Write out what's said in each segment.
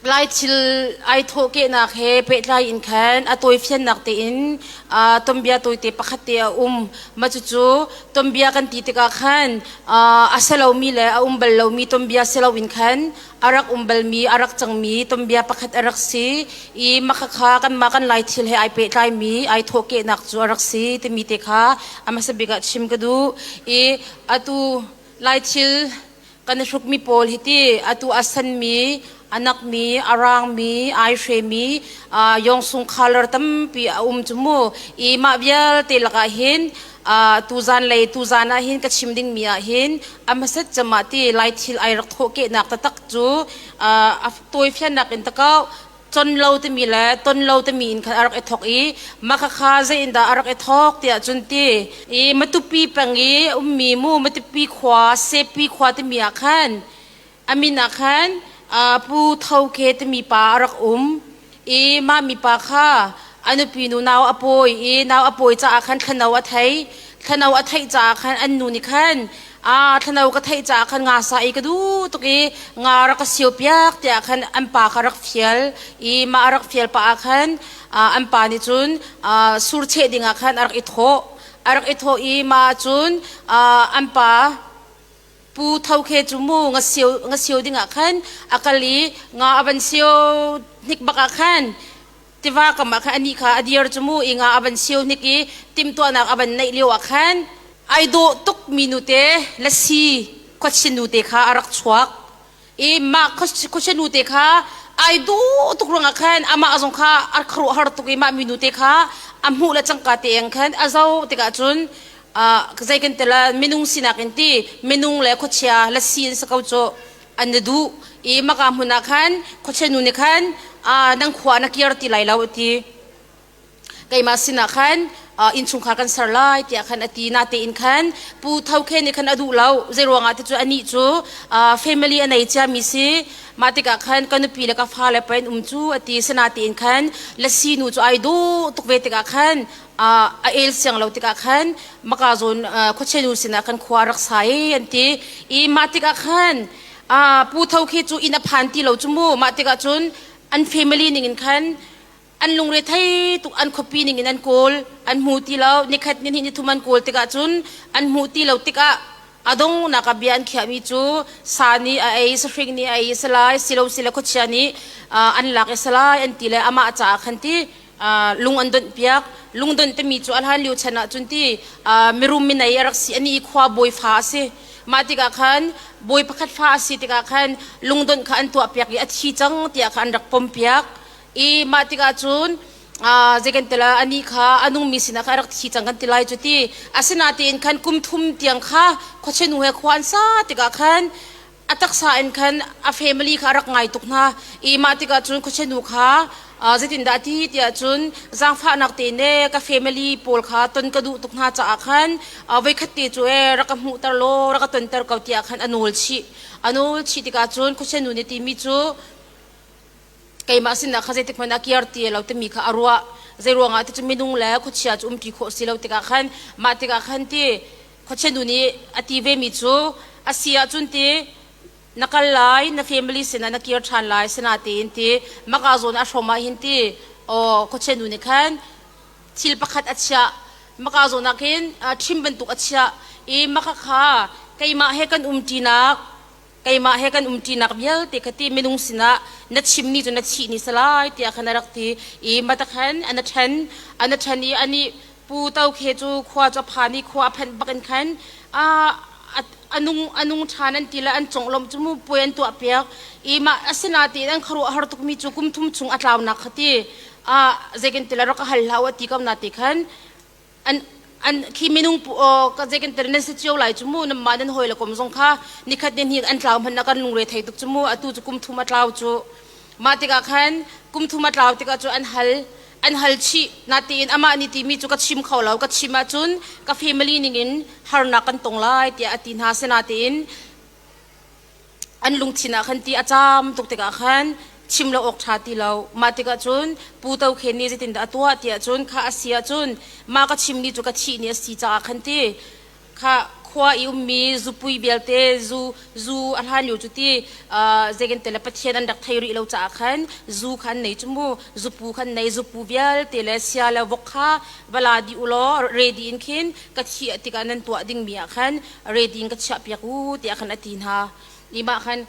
Lai thil ai thawhkehnak he pehtlai in khan a tawifiannak tein tonbia tawite pakhat te a um. Mah cucu tonbia kan ti tikah khan a si lomi le a um bal lomi tonbia si loin khan a rak um balmi, a rak cangmi tonbia pakhat a rak si i makhakha kanmah kan Lai thil he ai pehtlaimi, ai thawhkehnak cu a rak si timi te kha a hmasa bik ah chim ka duh i atu Lai thil Kan hrukmi pawl hiti atu a sanmi, a nakmi, a raangmi, ai hremi yawng sung khalar tampi a um cu mu. I mah vialte lakah hin tuzaan lei tuzaan ah hin ka chim dingmi ah hin a hmasat camah ti lai thil ai rak thawhkehnak taktak cu a tawifiannak in takau Con lo timi le ton lo timi in khan a rak i thawk i makhakha zeiindah a rak i thawk tiah cun ti i Matupi peng i ummi mu Matupi khua Sepi khua timi ah khan a min ah khan Pu Tho Ke timi pa a rak um i mah mipa kha a nupi nu nau a pawi i nau a pawi caah khan thlano a thei thlano a theih caah khan an nu nih khan a thlano ka theih caah khan nga sa i ka duh tuk i nga rak ka sio piak tiah khan an pa kha rak fial i mah rak fial pah ah khan an pa nih cun sur cheh ding ah khan a rak i thawh a rak i thawh i mah cun an pa pu tho khe cu mu nga sio nga sio ding ah khan a kal i nga a van sio hnik bak ah khan tiva kam ah khan anih kha a dir cu mu ing ah a van siu hnik i timhtuahnak a van neih lio ah khan ai dawh tukmi nute lasi khuachin nute kha a rak chuak i mah khuachin nute kha ai duh tuk ruangah khan amah zong kha a khuaruah har tuk i mah mi nute kha a hmuh le cangka te ang khan a zo tikah cun zei kan tila minung sinak in ti minung le khuachia lasi in sa ko cu an na duh i maka hmun ah khan khuachenu nih khan nan khua na kir ti lai lo a ti keimah sinah khan innchungkhar kan ser lai tiah khan a ti natein khan pu tho khe nih khan a duh lo zei ruangah ti cu anih cu family a nei cia mi si mah tikah khan ka nupi le ka fa le pa in um cu a ti sinatein khan lasi nu cu ai duh tuk ve tikah khan a el siang lo tikah khan makazawn khuachenu sinah kan khua rak sa i an ti i mah tikah khan pu tho khi cu inn a phan ti lo cu mu mah tikah cun an family ningin khan an lungre thei tuk an khuapi ningin an kawl an hmu ti lo nikhat ni ni thum an kawl tikah cun an hmu ti lo tikah a dong naka bia an khiahmi cu sa ni a ei sahring ni a ei salai silo sile khuachia nih an lak i salai an ti le amah caah khan ti lung an donh piak lungdonh timi cu a hlan lio chan ah cun ti mirum minei a rak si ani i khua bawi fa a si mah tikah khan bawi pakhat fa a si tikah khan lungdonh kha an tuah piak i a thi cang tiah kha an rak pom piak i mah tikah cun zei kan tila ani kha a nungmi sinah kha a rak thi cang kan ti lai cu ti asinain khan kum thum tiang kha khuachinu he khua an sa tikah khan a taksa in khan a family kha a rak ngai tuk hna i mah tikah cun khuachinu kha zeitindah a ti tiah cun zaangfahnak te ne ka family pawl kha ton ka duh tuk hna caah khan voikhat te cu ee rak ka hmuhter law rak ka tonter ko tiah khan a nawl chih a nawl chih tikah cun khuachinu nih timi cu keimah sinah kha zeitik hmanh a kir ti lo timi kha a ruah zei ruangah ti cu minung le khuachia cu umpi khawh si lo tikah khan mah tikah khan ti Khuachinu nih a ti vemi cu a si ahcun ti na kal lai, na family sinah na kir ṭhan lai, sinah tiin ti maka zawn a hrawm ahhin ti aw khuachinu nih khan thil pakhat a chiah. Maka zawn ah khin ṭhim bantuk a chiah i maka kha keimah he kan umṭinak keimah he kan umṭinak vialte kha ti minung sinah na chimmi cu na chih ni salai tiah khan a rak ti i mata khan an a ṭhen an a ṭhen i anih pu tokhe cu khua cu a phan i khua a phanh bakin khan a a nung a nung ṭhan an ti le an conglawmh cu puai an tuahpiak i mah asinain an khuaruahhar tukmi cu kum thum chung a tlaunak kha ti a zei kan ti le rak a hal hlah u a ti ko na ti khan an an khi minung ka je kan tar nan se chiu lai chu mu nam ma nan hoi la kom zong kha nikhat ni ni an tlaw man na kan lungre thei tuk chu mu atu chu kum thuma tlaw chu ma tika khan kum thuma tlaw tika chu an hal an hal chi na ti in ama ni ti mi chu ka chim kho lo ka chim a chun ka family ning in har na kan tong lai ti ati na sena ti in an lungthin ah khan ti a caam tuk tikah khan chim lo awk ṭha ti lo mah tikah cun pu to khe nih zeitindah a tuah tiah cun kha a si ahcun mah ka chimmi cu ka thih ni a si caah khan ti kha khua i ummi zupui vialte zu zu a hlan lio cu ti zegente le pathian an rak thei rih lo caah khan zu kha an nei cu mu zupu khan nei zupu vialte le sia le vok kha va la di u law ready in khin ka thih tikah nan tuah dingmi ah khan reti in ka chiah piak u tiah khan a ti hna nimah khan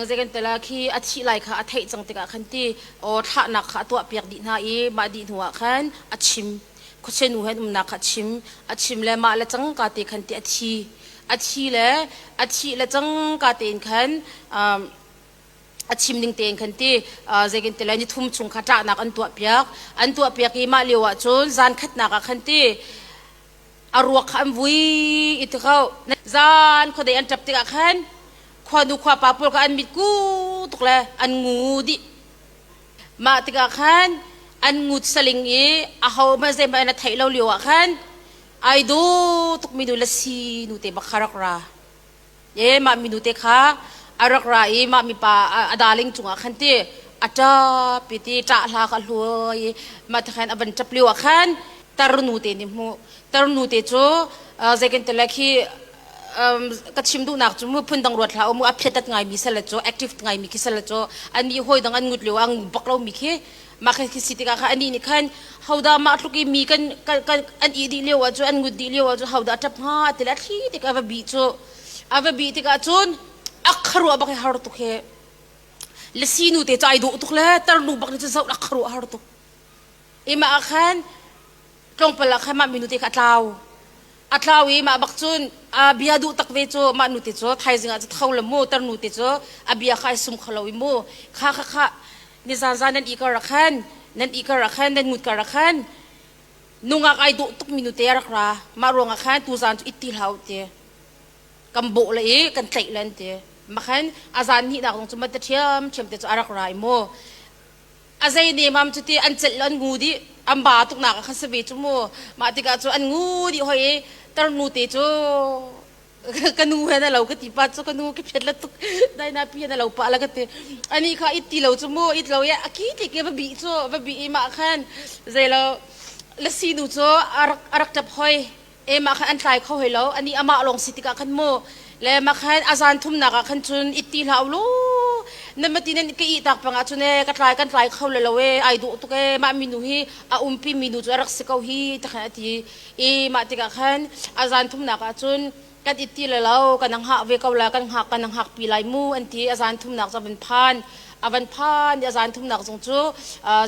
zeikan tala khi a thih lai kha a theih cang tikah khan ti o thlahnak kha a tuah piak dih hna i mah dih hnu ah khan a chim khuachenu he umnak kha a chim a chim le mah le cang ka te khan ti a thi a thi le a thi le cang ka tein khan a chim ning tein khan ti zeikin ti le ni thum chung kha tlahnak an tuah piak an tuah piak i mah lio ah cun zan khatnak ah khan ti a ruak kha an vui i ti ko zan khuadei an ṭap tikah khan khuanu khuapa pawl kha an mit ku tuk le an ngu dih mah tikah khan an ngut saling i ahohmanh zeihmanh an a theih lo lioah khan ai daw tukmi nu le si nu te bak kha rak ra e mah minu te kha a rak ra i mah mipa a darling cungah khan ti a ṭap i ti ṭah hla kha a hluai i mah ti khan a van ṭap lio ah khan tarnu te nih hmuh tarnu te cu zei kan tile khi ka chim duhnak cu mu phun dang ruat hlah u mu a phiatat ngaimi salet cu active ngaimi khi salet cu an nih hawi dang an ngut lio ah an bak lomi khi mah kan khi si tikah kha anih nih khan hodah mah tluk i mi kan an ih dih lio ah cu an ngut dih lio ah cu hodah ṭap hnga ti le thli tik a va bih cu a va bih tikah cun a kharuah bak i har tuk he le sinu te cu ai dawh tuk le tarlu bak nih cun zoh a kharuah har tuk imah ah khan tlawmpal ah khan mah minu te kha a tlau a tlau i mah bak cun aa bia duh tak ve cu mah nu te cu thaizing ah cu tho la mu tar nu te cu a bia kha ai sum kho lo i mu kha kha kha nizan zan nan i kar ah khan nan i kar ah khan nan ngut kar ah khan nungak ai dawh tuk minu te a rak ra mah ruang ah khan tu zan cu it ti hlah u ti kan bawh la i kan tlaih la an ti makhan a zan hnih nak zong cu matte ṭhiam ṭhiam te cu a rak ra i mu a zei nemam cu ti an celh an ngu dih an ba tuknak kha si ve cu mu mah tikah cu an ngu dih hoi i tarnu te cu ka nu he na lo ka ti pa cu ka nu ki phet la tuk dai na pi na lo pa la ka ti ani kha it ti lo cu mu it lo ye a ki ti ke va bi cu va bi i mah khan zei lo la sinu cu a rak a rak tap hoi e mah khan an tlai kho hoi lo ani amah lawng si tikah khan mu le mah khan azan thumnak ah khan cun it ti hlah ulu nan mati nan ka ih tak pangah cun e ka tlai kan tlai kho le lo e ai duh tuk e mah minu hi a umpi minu cu a rak si ko hi ta khan ati i mah tikah khan azan thumnak ah cun kan it ti le lo kan hngak ve ko la kan hngak kan hngak pi lai mu anti azan thumnak cu van phan avan phan i azan thumnak zong cu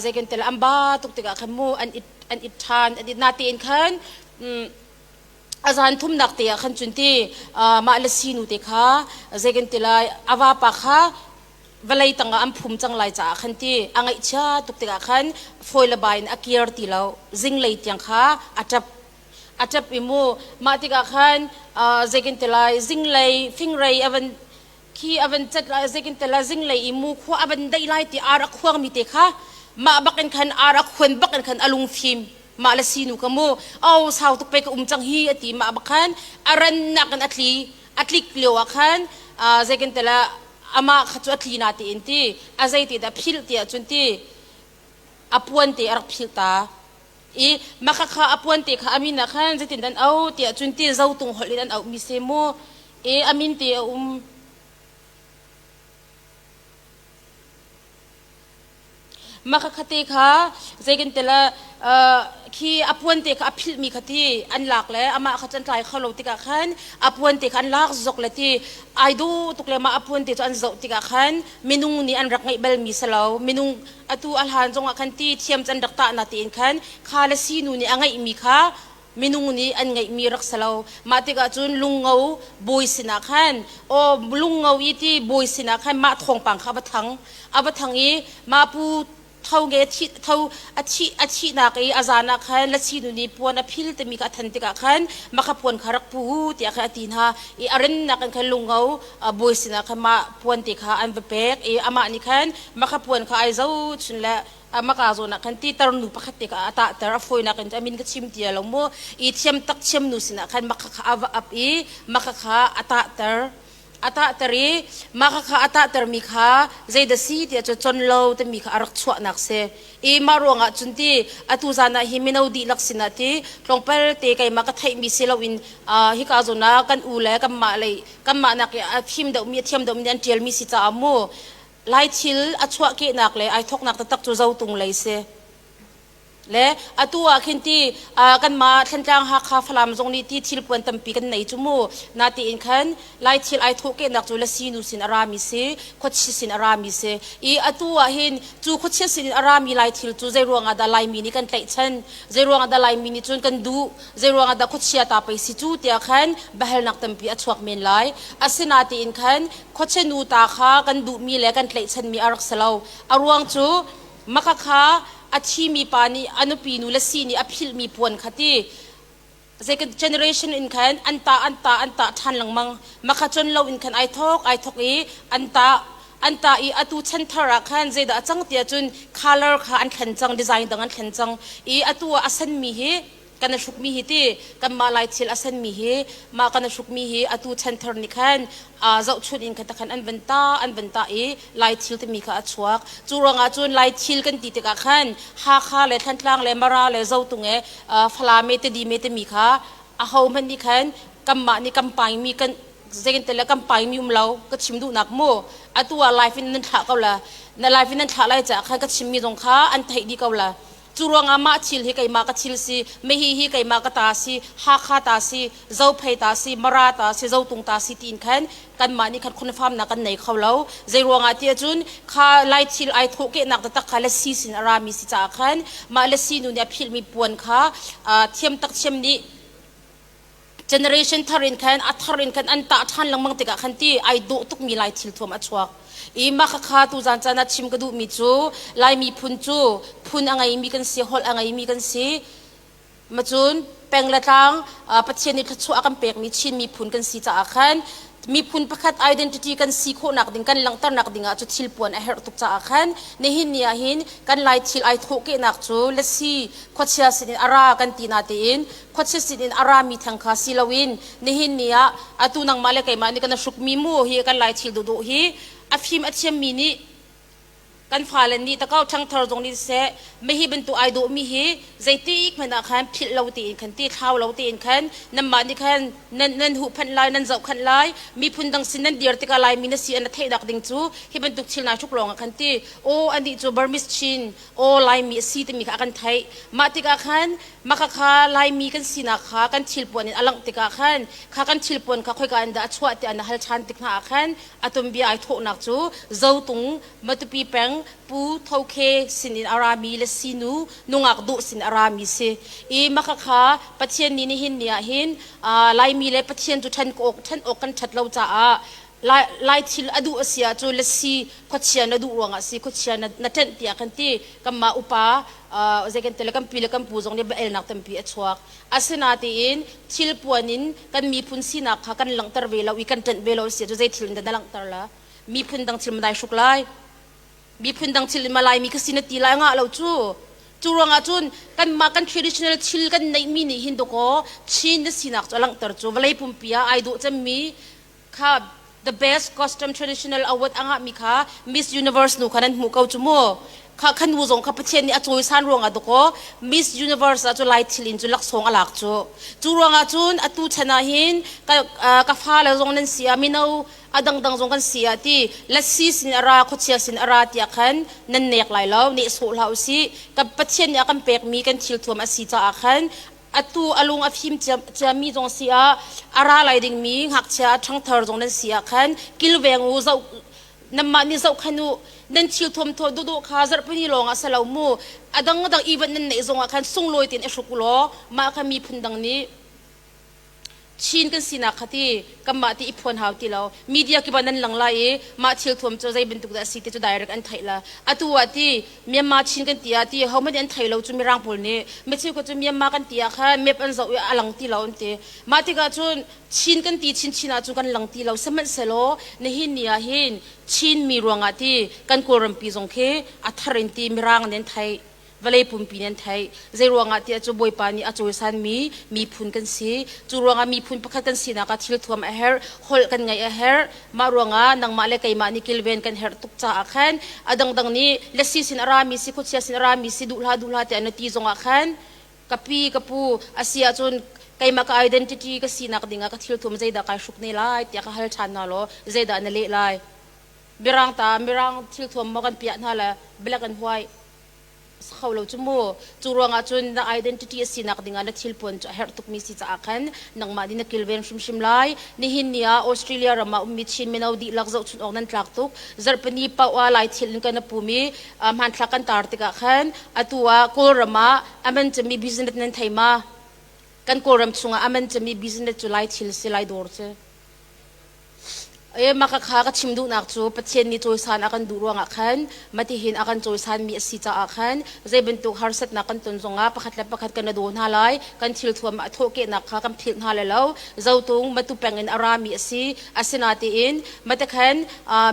zeiken tel amba tuk tikah khan mu an it an it ṭhan an it natein khan a zan thumnak te ah khan cun ti mah le sinu te kha zei kan ti lai a vapa kha vawlei tangah an phum cang lai caah khan ti a ngaihchia tuk tikah khan fawi le bai in a kir ti lo zinglei tiang kha a ṭap a ṭap i mu mah tikah khan zei kan ti lai zinglei fingrei a van khi a van cat lai zeikin tala zinglei i mu khua a van daih lai ti ar a khuang mi te kha mah bakin khan ar a khuan bakin khan a lungfim mah le sinu ka mu o sau tuk pe ka um cang hi ati mah bakhan a ran nak in a tli a tlik lio ah khan zeikin tala ama kha chu a tli na ti in ti a zei ti dah philh ti ah cun ti a puan te a rak philh ta i maka kha a puan te kha a min ah khan zeitin dan au tiah cun ti zotung holh in an auhmi se mu i a min te a um maka khate kha zeiken tela khi a puan te kha a philhmi kha ti an lak le amah kha can tlai kholo tikah khan a puan te kha an lak zok le ti ai du tuk le mah a puan te cu an zoh tikah khan minung nih an rak ngeih balmi salo minung atu a hlan zongah khan ti thiam can rak tah na tiin khan kha le sinu nih a ngeihmi kha minung nih an ngeihmi rak si lo mah tikah cun lungo bawi sinah khan aw lungo i ti bawi sinah khan mah thawngpang kha va thang a va thang i ma pu tho nge thi tho a thi a thihnak i a zan ah khan lasinu nih puan a phil timi kha a than tikah khan makhapuan kha rak pu tiah khan a ti hna i a rennak in khan lungo a bawi sinah khan mah puan ti kha an va pek i amah nih khan makha puan kha ai zohchun le amaka zawn ah khan titar nu pakhat te kha a tahter a fawinak in a min ka chim tia lo mu i thiam tak thiam nu sinah khan makha kha a va ap i makha kha a tahter a tahter i makha kha a tahter mi kha zeidah si tiah cu con lo timi kha a rak chuahnak si i mah ruangah cun ti atu zan ah hi mino dihlak sinah ti tlawngpal te keimah ka theih mi si loin uh, hika zawn ah kan u le kan mah lei kanmah nak a thim deuhmi a thiam deuhmi an ṭialmi si caah mu lai thil a chuahkehnak le ai thoknak taktak cu zotung lei si le atu ah khin ti kanmah thlentlang hakha falam zong nih ti thil puan tampi kan nei cu mu na ti in khan lai thil ai thawhkehnak cu la sinu sin a rami si khuachi sin a rami si i atu ah hin cu khuachia sin in a rami lai thil cu zei ruangah dah laimi nih kan tlaihchan zei ruangah dah laimi nih cun kan duh zeiruangah dah khuachia ta pei si cu tiah khan biahalnak tampi a chuak men lai. Asinatiin khan khuachinu ta kha kan duhmi le kan tlaihchanmi a rak si lo. A ruang cu makhakha a thimi pa nih a nupi nu le si nih a philhmi puan kha ti zei generation in khan an ta an ta an ta ṭhan lengmang makha con lo in khan ai thawk ai thawk i an ta an ta i atu chan thar ah khan zeidah a cang tiah cun color kha an thlen cang design dang an thlen cang i atu ah a sanmi hi kan i hrukmi hi ti kanmah lai thil a senmi hi mah kan i hrukmi hi atu chan thar nih khan zohchunh in khan khan an van ta an van ta i lai thil timi kha a chuak cu ruangah cun lai thil kan ti tikah khan hakha le thantlang le mara le zotung e falame te dime temi kha aho hmanh nih khan kanmah nih kan paingmi kan zegentele kan paimi um lo ka chim duhnak mu atu ah life in nan thlah ko la na life in nan thlah lai caah khan ka chimmi zong kha an theih dih ko la Cu ruangah mah thil hi keimah ka thil si, mehi hi keimah ka ta si, Hakha ta si, Zophei ta si, Mara ta si, Zotung ta si tiin khan kanmah nih khan khunafaamnak kan nei kho lo. Zei ruangah tiah cun kha lai thil ai thawh kehnak taktak kha lasi sin a rami si caah khan mah lasi nu nih a philhmi puan kha thiam tak thiam nih generation thar in khan a thar in khan an tah ṭhan lengmang tikah khan ti ai dawh tukmi lai thil thuam a chuak i mah khakha tu zan caan ah chim ka duhmi cu lai miphun cu phun a ngeimi kan si holh a ngeimi kan si macun peng le tlang pathian nih thluachuah a kan pekmi chin miphun kan si caah khan miphun pakhat identity kan si khawhnak ding kan langhternak dingah cu thil puan a herh tuk caah khan nihin ni ahhin kan lai thil ai thawhkehnak cu lasi khuachia sinin a ra kan ti natein khuachia sin in a rami theng kha si loin nihin ni ah atu nangmah le keimah nih kan a hrukmi mu hi kan lai thil duhduh hi a fim a thiammi nih kan fale nih takau ṭhangthar zong nih seh mei hi bantuk ai dawhmi hi zeiti ik hmanh ah khan philh lo tiin khan ti thlau lo tiin khan nanmah nih khan nan nan huhphanh lai nan zohkhanh lai miphun dang sin nan dir tikah lai mi na si an theihnak ding cu hi bantuk thil nai hruk lawng ah khan ti aw anih cu Burmese Chin aw Laimi a si timi kha a kan theih. Mah tikah khan maka kha Laimi kan sinak kha kan thilpuan in a langh tikah khan kha kan thilpuan kha khoika in dah a chuah tiah na hal ṭhan tik hna ah khan a tumbia ai thawhnak cu Zotung, Matupi peng Pu Tho Khe sinin a rami le sinu nungak Duh sin a rami si i maka kha Pathian ni nihin ni ahhin Laimi le Pathian cu ṭhen awk ṭhen awk kan ṭhat lo caah Lai, lai thil a duh a si ah cu lasi khuachia na duh ruangah si khuachia na, na ṭenh piak kan ti kanmah upa uh, zei kan ti le kan pi le kan pu zong nih elnak tampi a chuak asina tiin thilpuan in kan miphun sinak kha kan langhter ve lo i kan ṭenh ve lo a si cu zei thil in dah na langhter la miphun dang thil ma dai hruk lai miphun dang thil in ma lai mi kha si na ti lai ngah lo cu cu ruangah cun kanmah kan traditional thil kan neihmi nih hin dawkaw Chin na sinak cu a langhter cu vawlei pumpi ah ai dawh cemmi kha the best custom traditional award angahmi kha Miss Universe nu kha nan hmu ko cu mu kha khan nu zong kha Pathian nih a cawisan ruangah dakaw Miss Universe ah cu lai thil in cu laksawng a lak cu cu ruangah cun atu chan ah hin ka ka fa le zong nan si a mino a dangdang zong kan si a ti lasi sin a ra khuachia sin a ra tiah khan nan nek lai lo ne sawh hlah u si ka Pathian nih a kan pekmi kan thil thuam a si caah khan atu a lung a fim ciami zong si ah a ra lai dingmi ngakchia ṭhangthar zong nan si ah khan kilveng u zoh nanmah nih zoh khan u nan thil thuamthaw dawdawh kha zarhpini lawng ah si lo mu a dang dang ivan nan neih zong ah khan sunglawi tein i hruk u law mah kha miphun dang nih Chin kan sinak kha ti kanmah ti i phuan hau ti lo media kiban nan lang lai i mah thil thuam cu zei bantuk dah a si ti cu direct an theih la atu ah ti Myanmar Chin kan ti ah ti hohmanh an thei lo cu mirang pawl nih micheu cu Myanmar kan ti ah kha map an zoh i a lang ti lo an ti mah tikah cun Chin kan ti chinchin ah cu kan lang ti lo sihmanhsehlaw nihin ni ah hin Chin mi ruangah ti kan kawlrampi zong khi a thar in ti mirang nih an theih vawlei pumpi nih an theih. Zeiruangah tiah cu Bawipa nih a cawisanmi miphun kan si. Cu ruangah miphun pakhat kan sinak ah thil thuam a herh, holh kan ngaih a herh. Mah ruangah nangmah le keimah nih kilven kan herh tuk caah khan a dangdang nih lasi sin a rami si, khuachia sin a rami si, duh hlah duh hlah tiah na ti zongah khan ka pi, ka pu a si ahcun keimah ka identity ka sinak dingah ka thil thuam zeidah kai hruk ne lai tiah ka hal ṭhan hna law zeidah na leh lai? Mirang ta, Mirang thil thuam maw kan piah hna le black and white? si kho lo cu mu cu ruangah cun na identity a sinak dingah na thil puan cu a herh tukmi si caah khan nangmah nih na kilven hrimhrim lai nihin ni ah Australia ram ah ummi Chin mino dihlak zohchunh awk nan tlak tuk zarhpini paoha lai thil in kan na pum i hmanthlak kan tar tikah khan atu ah Kawlram ah aman cami business nan thei ma kan Kawlram chungah aman cami business cu lai thil si lai dawr cu Makhakha ka chim duhnak cu Pathian nih cawisan a kan duh ruangah khan matihin a kan cawisanmi a si caah khan zei bantuk harsatnak kan ton zongah pakhat le pakhat kan i daw hna lai. Kan thilthuam ah a thawhkehnak kha kan philh hna le lo. Zotung matu pengin a rami a si. Asinatiin matekhan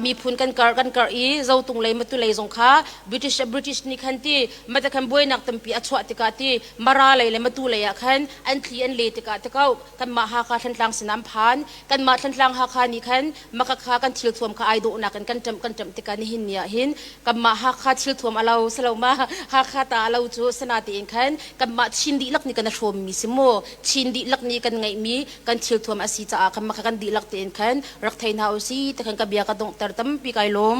miphun kan karh kan karh i Zotung lei matu lei zong kha British British nih khan ti matekhan buainak tampi a chuah tikah ti Mara lei le matu lei ah khan an thli an le tikah tikauh kanmah Hakha Thlantlang sinah an phan. kanmah thlantlang hakha nih khan makakha kan thilthuam kha ai dawhnak in kan ṭamh kan ṭamh tikah nihin ni ah hin kanmah hakha thilthuam a lo saloma hakha ta a lo cu sana tein khan kanmah chin dihlak nih kan a hrawmmi si mu chin dihlak nih kan ngeihmi kan thilthuam a si caah kanmah kha kan dihlak tein khan rak thei hna u si ti khan ka bia ka donghter tampi kai lawm